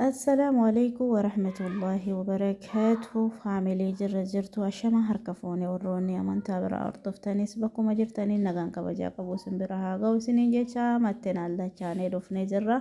Assalaamu alaikum warahmatullaahi wabarakaatu faamilee jirra jirtu ashama harka foone warroonni amantaa biraa hordoftanis bakkuma jirtaniin nagaan kabajaa qabu isin bira haa ga'u isiniin jecha matteenaalla chaanee dhufnee jirra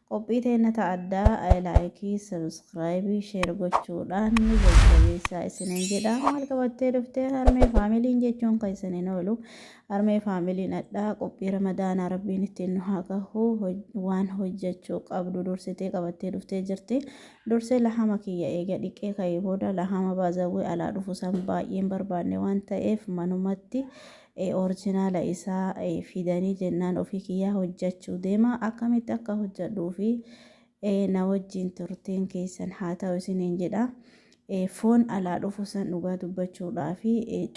Qophii teenna ta addaa Laayikii, Subscribe, Share gochuudhaan nu jajjabeessaa isiniin jedha. Maal qabattee dhuftee harmee faamiliin jechuun kan isin hin oolu. Harmee faamiliin addaa qophii ramadaanaa rabbiin ittiin nu haa gahu waan hojjechuu qabdu dursitee qabattee dhuftee jirti. Dursee lahama kiyya eega dhiqee ka'ee booda lahama baazawwee alaa dhufu san baay'een barbaanne waan ta'eef manumatti Orjinaala isaa fidanii jennaan ofii kiyyaa hojjachuu deema. Akkamitti akka hojjadhuu fi na wajjiin turtiin keessan haa ta'u isiniin jedha. Foon alaa dhufu san dhugaa dubbachuudhaa fi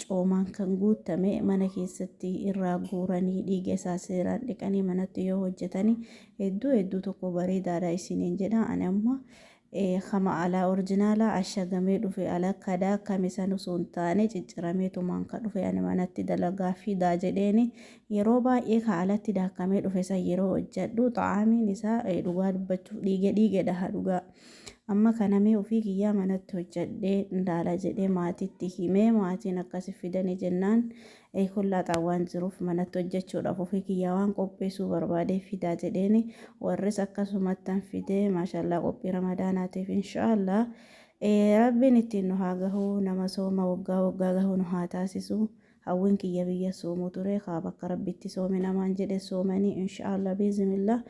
coomaan kan guuttame mana keessatti irraa guuranii dhiiga isaa seeraan dhiqanii manatti yoo hojjetani hedduu hedduu tokko bareedaadha isiniin jedha. Ani amma ee kama alaa orjinaalaa ashagamee dhufe ala kadaa kami san osoo hin taane ciccirameetumaan ka dhufe ani manatti dalagaa fidaa jedheeni yeroo baay'ee ka alatti daakkamee dhufe san yeroo hojjadhu xa'aamiin isaa dhugaa dubbachuuf dhiige dhiige dhaha dhugaa amma kanamee ofii kiyyaa manatti hojjadhee ndaala jedhee maatitti himee maatiin akkasi fidani jennaan Kolaaxaan waan jiruuf manatti hojjechuudhaaf ofii kiyyaa waan qopheessuu barbaadee fidaa jedheeni warris akkasumattan fidee maashaallaa qophii ramadaanaatiif inshaallaa rabbiin ittiin nu haa gahuu nama sooma waggaa waggaa gahuu nu haa taasisu hawwiin kiyya biyya soomuu ture kaa bakka rabbitti soome namaan jedhe soomanii inshaallaa biizimillaa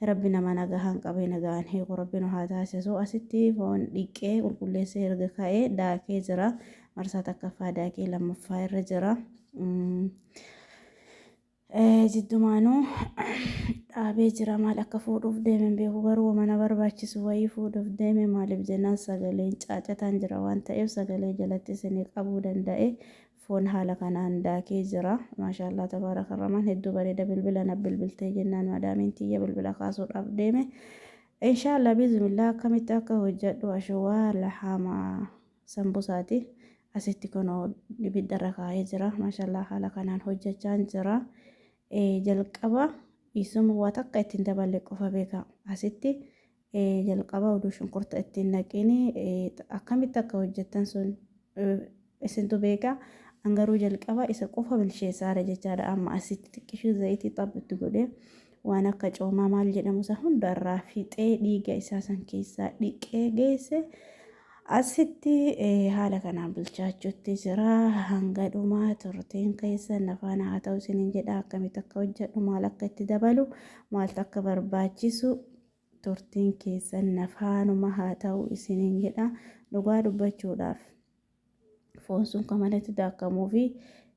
rabbi nama nagahaan qabee nagaan hiiku rabbi nu haa taasisu asitti foon dhiqee qulqulleessee erga ka'ee daakee jira marsaa takkaffaa daakee lammaffaa irra jira. Jiddumaanuu dhaabee jira maal akka fuudhuuf deeme beeku garuu mana barbaachisu wayii fuudhuuf deeme maaliif jennaan sagaleen caacataan jira waan ta'eef sagalee jalatti isinii qabuu danda'e foon haala kanaan daakee jira maashaallaa tabaaraka ramaan hedduu bareeda bilbila na bilbiltee jennaan madaamiin tiyya bilbila kaasuudhaaf deeme. Inshallah bismillah akkamitti akka hojjedhu ashwaa lahamaa sambusaati asitti kunoo ibiddarra kaa'ee jira maashallaa haala kanaan hojjachaan jira jalqaba isuma waa takka ittiin daballe qofa beeka asitti jalqaba oduu shunkurta ittiin naqini akkamitti akka hojjettan sun isintu beeka an garuu jalqaba isa qofa bilcheessaara jechaadha amma asitti xiqqishuu zayitii xabbitti godhee Waan akka coomaa maal jedhamu san hunda irraa fixee dhiiga isaa san keessaa dhiqee geesse. Asitti eh, haala kanaan bilchaachuutti jira. Hanga dhumaa turteen keessa nafaan haa ta'u isinin jedha akkamitti akka hojjedhu maal akka itti dabalu maaltu akka barbaachisu turtiin keessan nafaanuma haa ta'u isinin jedha dhugaa dubbachuudhaaf foon sun kamalatti daakkamuu fi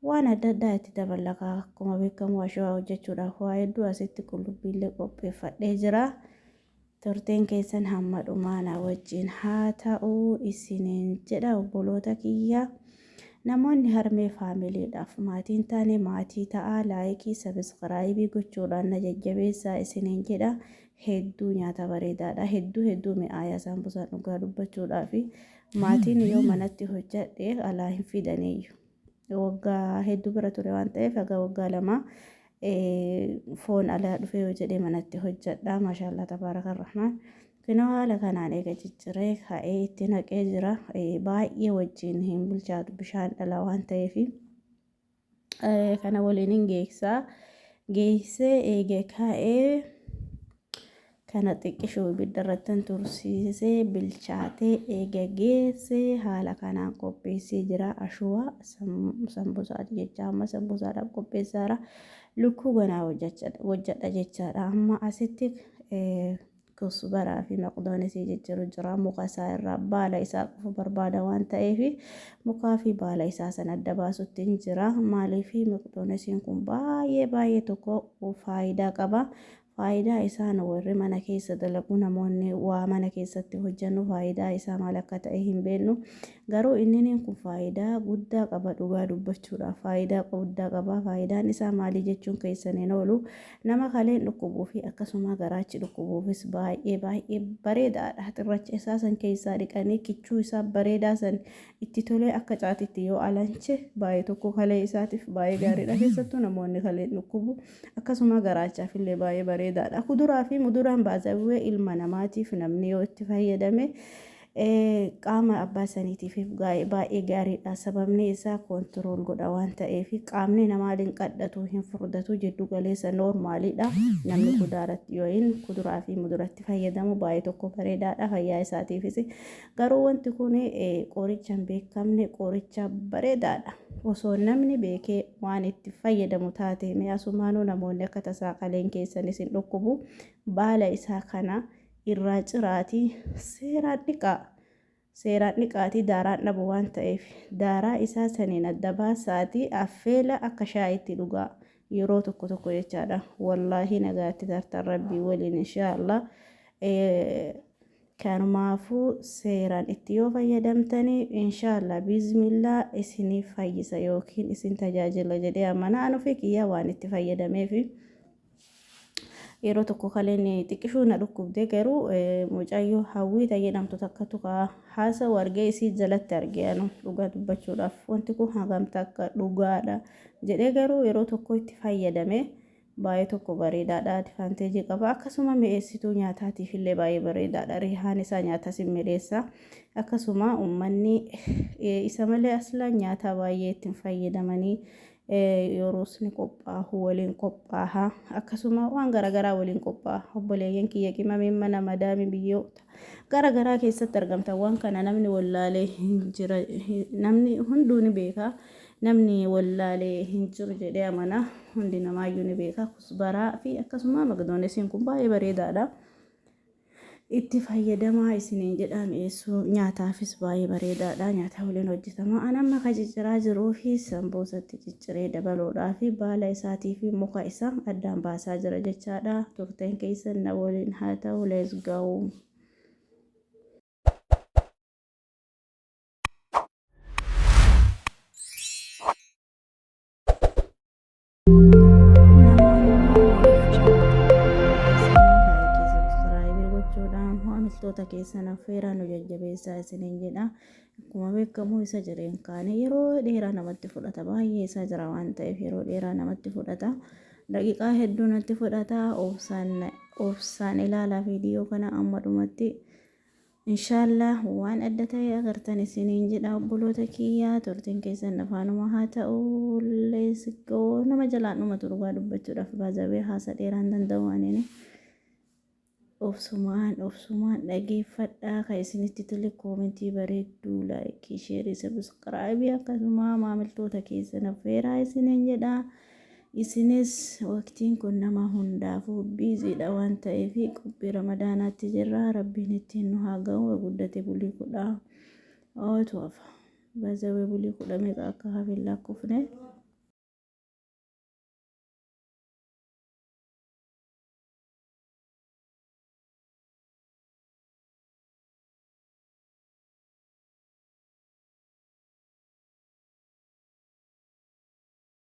Waan adda addaa itti daballa kaa akkuma beekamu ashawaa hojjechuudhaaf waa hedduu asitti qullubbiillee qopheeffadhee jira. Turtiin keessan hamma dhumaa na wajjin haa ta'u isiniin jedha obboloota kiyya. Namoonni harmee faamiliidhaaf maatii hin taane maatii ta'aa laayikii sabiskiraayibii gochuudhaan na jajjabeessaa isiniin jedha. Hedduu nyaata bareedaadha. Hedduu hedduu mi'aayaa saambusaan dhugaa dubbachuudhaaf maatiin yoo manatti hojjedhe alaa hin fidaniiyyu. waggaa hedduu bira ture waan ta'eef haga waggaa lamaa foon alaa dhufee yoo jedhee manatti hojjedha maashaallaa tabaarakan rahmaan kinoo haala kanaan eega cicciree ka'ee itti naqee jira baay'ee wajjin hin bilchaatu bishaan dhala waan ta'eef kana waliin hin geessaa geessee eega ka'ee Kana xiqqishuu ibiddarrattan tursiisee bilchaatee eega geessee haala kanaan qopheessee jira. Ashuwaa sambusaati jecha amma sambusaadhaaf qopheessaara. Lukkuu ganaa hojjedha jechaadha. Amma asitti kusbaraa fi maqdoonisii jijjiiru jira. Muka isaa irraa baala isaa qofa barbaada waan ta'eef mukaa fi baala isaa san adda baasutti hin jira. Maaliif maqdoonisiin kun baay'ee baay'ee tokko faayidaa qaba. Faayidaa isaa nu warri mana keessa dalagu namoonni waa mana keessatti hojjannu faayidaa isaa maal akka ta'e hin beennu garuu inniniin kun faayidaa guddaa qaba dhugaa dubbachuudhaaf faayidaa guddaa qaba faayidaan isaa maalii jechuun keessan hin oolu nama kaleen dhukkubuu fi akkasuma garaachi dhukkubuufis baay'ee baay'ee bareedaadha xirracha isaa san keessaa dhiqanii kichuu isaa bareedaa san itti tolee akka caatitti yoo alanche baay'ee tokko kalee isaatiif baay'ee gaariidha keessattuu namoonni kaleen dhukkubu Akkasuma garaachaaf illee baay'ee bareedaadha. Kuduraa fi muduraan baazawwee ilma namaatiif namni yoo itti fayyadame qaama abbaa saniitiif baay'ee gaariidha. Sababni isaa koontirool godha waan ta'eef qaamni namaa hin qadhatu hin furdatu jiddu galeessa noormaaliidha. Namni kudaaratti yookiin kuduraa fi muduratti fayyadamu baay'ee tokko bareedaadha. Fayyaa isaatiifis Garuu wanti kun qoricha hin beekamne qoricha bareedaadha. Osoo namni beekee waan itti fayyadamu taate mee asumaanuu namoonni akka tasaa kaleen keessan isin dhukkubu baala isaa kana irraa ciraatii seeraan dhiqaa. Seeraan dhiqaatii daaraan dhabu waan ta'eef daaraa isaa saniin adda baasaatii affeela akka shaayitti dhugaa yeroo tokko tokko jechaadha. Wallaahi nagaatti tartan rabbii waliin inshaallah. Kanumaafuu seeraan itti yoo fayyadamtanii inshaallaa biizmillaa isiniif fayyisa yookiin isin tajaajila jedhee amana an ofii kiyyaa waan itti fayyadameefi yeroo tokko kaleen xiqqishuu na dhukkubde garuu mucayyoo hawwii ta jedhamtu takkatu kaa haasa'u argee isii jalatti argee anu dhugaa dubbachuudhaaf wanti kun hagam takka dhugaadha jedhee garuu yeroo tokko itti fayyadame Baay'ee tokko bareedaadha advantage qaba akkasuma mi'eessituu nyaataatiif illee baay'ee bareedaadha rihaan isaa nyaata sin mi'eessa akkasuma ummanni isa malee aslaan nyaataa baay'ee ittiin fayyadamanii yeroos ni qophaahu waliin qophaaha akkasuma waan garaagaraa waliin qophaaha obboleeyyan kiyya qimameen mana madaami biyyoota garaagaraa keessatti argamta waan kana namni wallaalee hin jira namni hunduu ni beeka Namni wallaale hin jiru jedhee amana. Hundi namaayyuu ni beeka. Kusbaraa fi akkasuma magdoonesiin kun baay'ee bareedaadha. Itti fayyadamaa isiniin jedhaa mi'eessuu nyaataafis baay'ee bareedaadha. Nyaata waliin hojjetama. An amma kan cicciraa jiruu fi sambuusatti cicciree dabaluudhaa fi baala isaatii fi muka isaa addaan baasaa jira jechaadha. Turteen keessan na waliin haa ta'u. Let's go! Wantoota keessan affeeraa nu jajjabeessaa isiniin jedha. Akkuma beekamu isa jireen kaane yeroo dheeraa namatti fudhata. Baay'ee isaa jira waan ta'eef yeroo dheeraa namatti fudhata. Daqiiqaa hedduu natti fudhata. Obsaan obsaan ilaalaa viidiyoo kana amma dhumatti Inshallah waan adda tahe agartan isiniin jedha obboloota kiyya turtiin keessan afaanuma haa ta'u let's go nama jalaan dhumatu dhugaa dubbachuudhaaf baazawee haasa dheeraan danda'u anini obsumaan obsumaan dhageeffadhaa ka isinitti tole koomentii bareedduu laayikii sheerii sabiskiraayibii akkasumaa maamiltoota keessan affeeraa isiniin jedha Isinis waqtiin kun nama hundaafu busy dha waan ta'eef qophii ramadaanaatti jirra rabbiin ittiin nu haa ga'u waguddate bulii kudha ootu hafa bazawe bulii kudha meeqa akka hafe hin lakkofne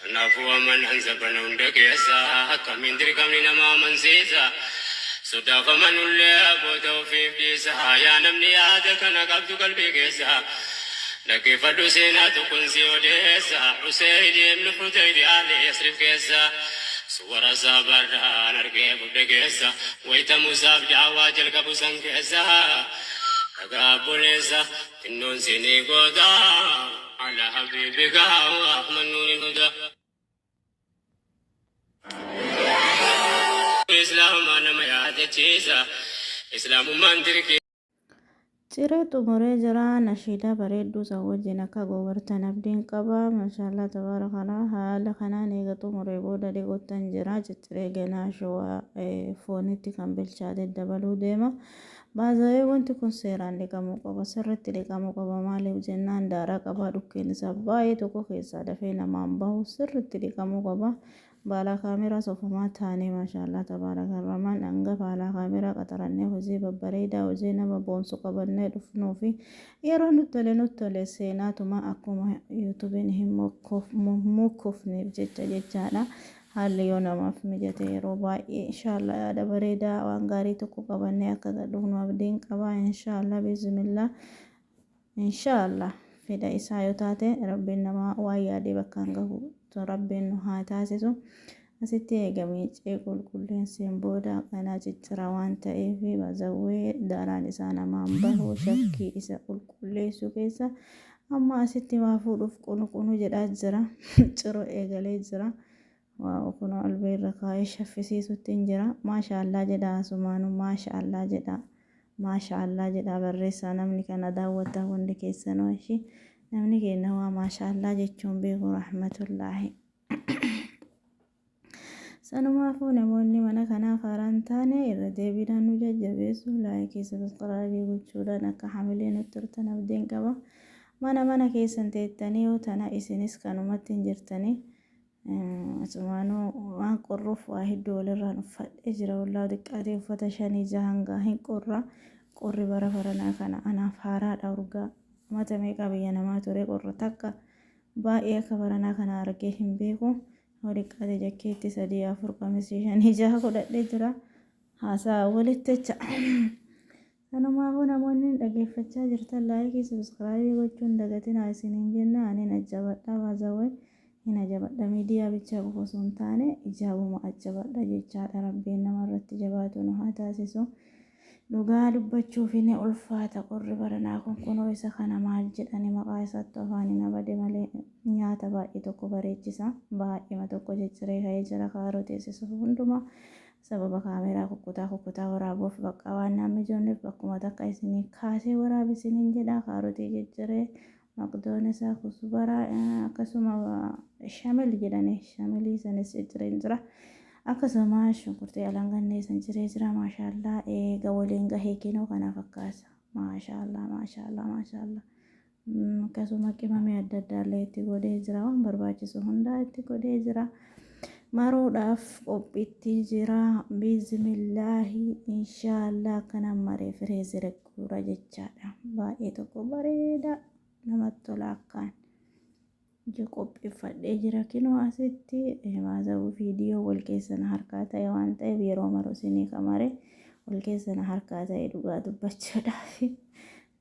Kanaafuu amanansa kana hunda keessa akkamiin dirqamni nama amansiisa? Sodaaf amanullee abboota ofiif dhiisa. Yaa namni yaada kana qabdu qalbii keessa dhaggeeffadhu seenaa tokkon sii odeessa. Usayd ibn Hudayr Ahli Yasrib keessa suwara sahaabaarraan argee fudhe keessa wayita Musaab da'awaa jalqabu san keessa dhagaa obboleessa Innoon seenee gooda ala habiibi gaawa mannuuni nuda. Islaamaa nama yaadachiisa islaamummaan dirqii. Ciree xumuree jira nashiidaa bareedduu san wajjin akka goobartan abdiin qaba mashaallaa tabaarakalaa haala kanaan eega xumuree booda dhiquttan jira cicciree ganaa showaa foonitti kan bilchaate dabaluu deema By the way wanti kun seeraan dhiqamuu qaba sirritti dhiqamuu qaba maaliif jennaan daaraa qabaa dhukkeen isaa baay'ee tokko keessaa dafee namaan bahu sirritti dhiqamuu qaba baalaa kaameeraa sofumaa taanee maashaallaa tabaarakan ramaan hanga baalaa kaameeraa qaxarannee hojii babbareedaa hojii nama boonsu qabannee dhufnuu fi yeroo nutti tole nutti tole seenaatuma akkuma yuutubiin hin mukkofneef jecha jechaadha Haalli yoo namaaf mijate yeroo baay'ee inshaallaa yaada bareedaa waan gaarii tokko qabannee akka gad dhufnu abdiin qaba inshaallaa biizimillaa inshaallaa fedha isaa yoo taate rabbiin namaa waan yaadee bakkaan gahu rabbiin nu haa taasisu asitti eegamee cee qulqulleesseen booda kanaa ciccira waan ta'eef bazawwee daaraan isaa namaan bahu shakkii isa qulqulleessuu keessa Amma asitti waa fuudhuuf qunu qunu jedhaa jira. Ciroo eegalee jira. Waa'oo kunoo albee irra kaa'ee shaffisiisuttiin jira. Maasha Allah jedhaa asumaanuu maasha Allah jedhaa. Maasha Allah jedhaa barreessaa namni kana daawwattan hundi keessanuu ishii. Namni keenya waa maasha Allah jechuun beeku rahmatullaahi. Sanumaafuu namoonni mana kanaaf haaraa hin taane irra deebiidhaan nu jajjabeessuu, laayikii, sabiskiraayibii gochuudhaan akka hamilee nutti hortan abdiin qaba. Mana mana keessan teettanii yoo tana isinis kanumatti hin jirtanii. Asumaanuu waan qorruuf waa hedduu walirraan uffadhee jira. Wallaahu xiqqaatee uffata shanii jahan gaa hin qorra. Qorri bara baranaa kana anaaf haaraadha urgaa. Mata meeqaa biyya namaa ture qorra takka. Baay'ee akka baranaa kana argee hin beeku. Yoo xiqqaate jakkeetti sadii afur qamisii shanii jaha godhadhee jira. Haasaa walitti jecha. Kanumaafuu namoonni hin dhageeffachaa jirtan laayikii subscribe gochuun dagatinaa isiniin jenna ani hin ajjabadha baazawee hin ajabadha miidiyaa bichaa qofa osoo hin taane ijaabuma ajjabadha jechaadha rabbiin nama irratti jabaatu nu haa taasisu. Dhugaa dubbachuuf ni ulfaata qorri baranaa kun kunoo isa kana maal jedhani maqaa isaattu afaani na bade malee nyaata baay'ee tokko bareechisa baay'eema tokko cicciree ka'ee jira kaaroo teessisuuf hundumaa sababa kaameeraa kukkutaa kukkutaa waraabuuf baqqaa waan naan mijoonneef bakkuma takka isinii kaasee waraabi isiniin jedha kaarotii cicciree Maqdoones Kusubara akkasuma shamil jedhani shamilii sanis ciccireen jira. Akkasuma shunkurtii alangannee san ciree jira maashaallaa eega waliin gahee kinoo kana fakkaata. Maashaallaa maashaallaa maashaallaa. Akkasuma qimamii adda addaa illee itti godhee jira waan barbaachisu hundaa itti godhee jira. Maruudhaaf qophiitti jira. Bismillaahi inshaallah akkanaan maree firee ziree. Suura jechaadha. Baay'ee tokko bareedaa namatti tola akkaan. Ija qopheeffadhee jira kinoo asitti maazawuu viidiyoo wal keessa na harkaa ta'e waan ta'eef yeroo maru isinii kamare wal keessa na harkaa ta'e dhugaa dubbachuudhaaf.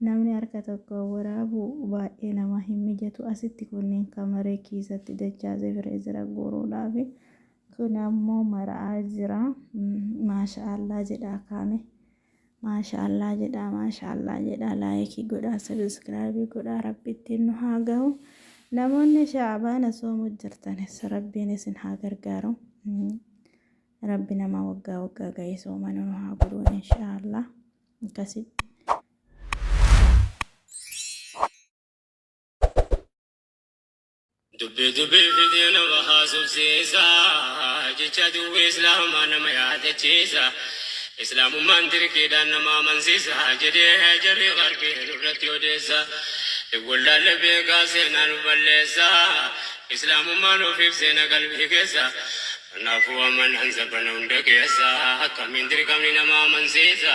Namni harka tokko waraabu baay'ee nama hin mijatu asitti kunniin kamaree kiisatti dachaasee firee jira guuruudhaaf. Kun ammoo mara'aa jira. Maasha Allah jedhaa kaame. Maashaallah jedhaa maashaallah jedhaa laayikii godhaa sabiskiraabii godhaa rabbi ittiin nu haa gahu namoonni shaabaana soomu jirtanis rabbiin isin haa gargaaru rabbi nama waggaa waggaa gahee soomanu nu haa godhu inshaallah akkasii Dubbii dubbii fidee nama haasofsiisa. Jecha duwwee Islaamaa nama yaadachiisa. Islaamummaan dirqiidhaan nama amansiisa. Jedhee jarri qarbii nurratti odeessa. Hin wallaalle beekaa seenaa nu balleessa. Islaamummaan ofiif seena qalbii keessa. Kanaafuu amanansa kana hunda keessa akkamiin dirqamni nama amansiisa?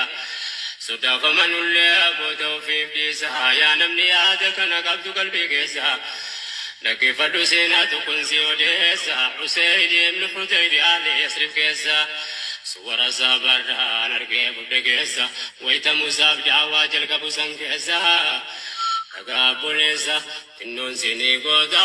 Sodaaf amanullee abboota ofiif dhiisa. Yaa namni yaada kana qabdu qalbii keessa dhaggeeffadhu seenaa tokkon sii odeessa. Usayd ibn Hudayr Ahli Yasrib keessa suwara sahaabaarraan argee fudhe keessa wayta Musaab da'awaa jalqabu san keessa dhaga'a obboleessa xinnoon siinii goota.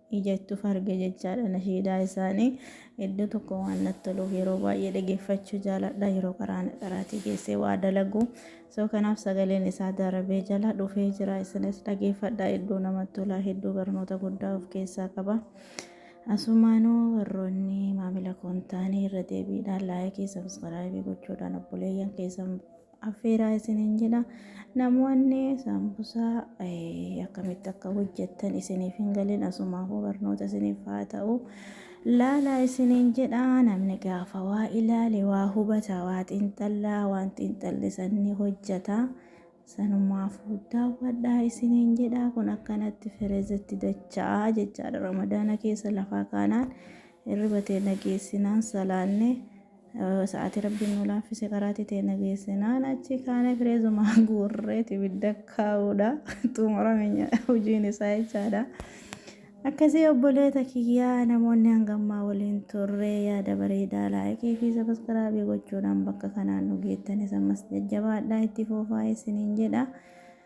ija itti of arge jechaadha nashiidaa isaanii iddoo tokko waan natti toluuf yeroo baay'ee dhageeffachuu jaaladha yeroo qaraana qaraatii geessee waa dalagu soo kanaaf sagaleen isaa darabee jala dhufee jira isinis dhageeffadha hedduu namatti tola hedduu barnoota guddaa of keessaa qaba asumaanuu warroonni maamila koontaanii irra deebiidhaan laayikii sabskraayibii gochuudhaan obboleeyyan keessan affeeraa isiniin jedha. Namoonni saambusaa akkamitti akka hojjettan isiniif hin galin asumaafuu barnoota isiniif haa ta'u. Laalaa isiniin jedha namni gaafa waa ilaale waa hubata waa xiinxallaa waan xiinxalle sanni hojjeta. Sanumaafuu daawwadhaa isiniin jedha kun akkanatti fireezetti dacha'aa jechaadha ramadaana keessa lafaa kaanaan Hirriba teenna geessinaan salaanne, sa'aatii Rabbiin nuu laaffise qaraatii teenna geessinaan achi kaanee fireezuma guurreet ibidda kaa'uudha. Xumurame hojiin isaa jechaadha. Akkasii obboleeta kiyyaa namoonni hanga ammaa waliin turre yaada bareedaa laayikii fi sabaskiraabii gochuudhaan bakka kanaan nu geettanis ammas jajjabaadhaa itti fuufaa isiniin jedha.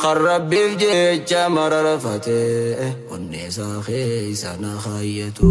Kan Rabbiif jecha mararfate onneesaa keessa na kaayyatu.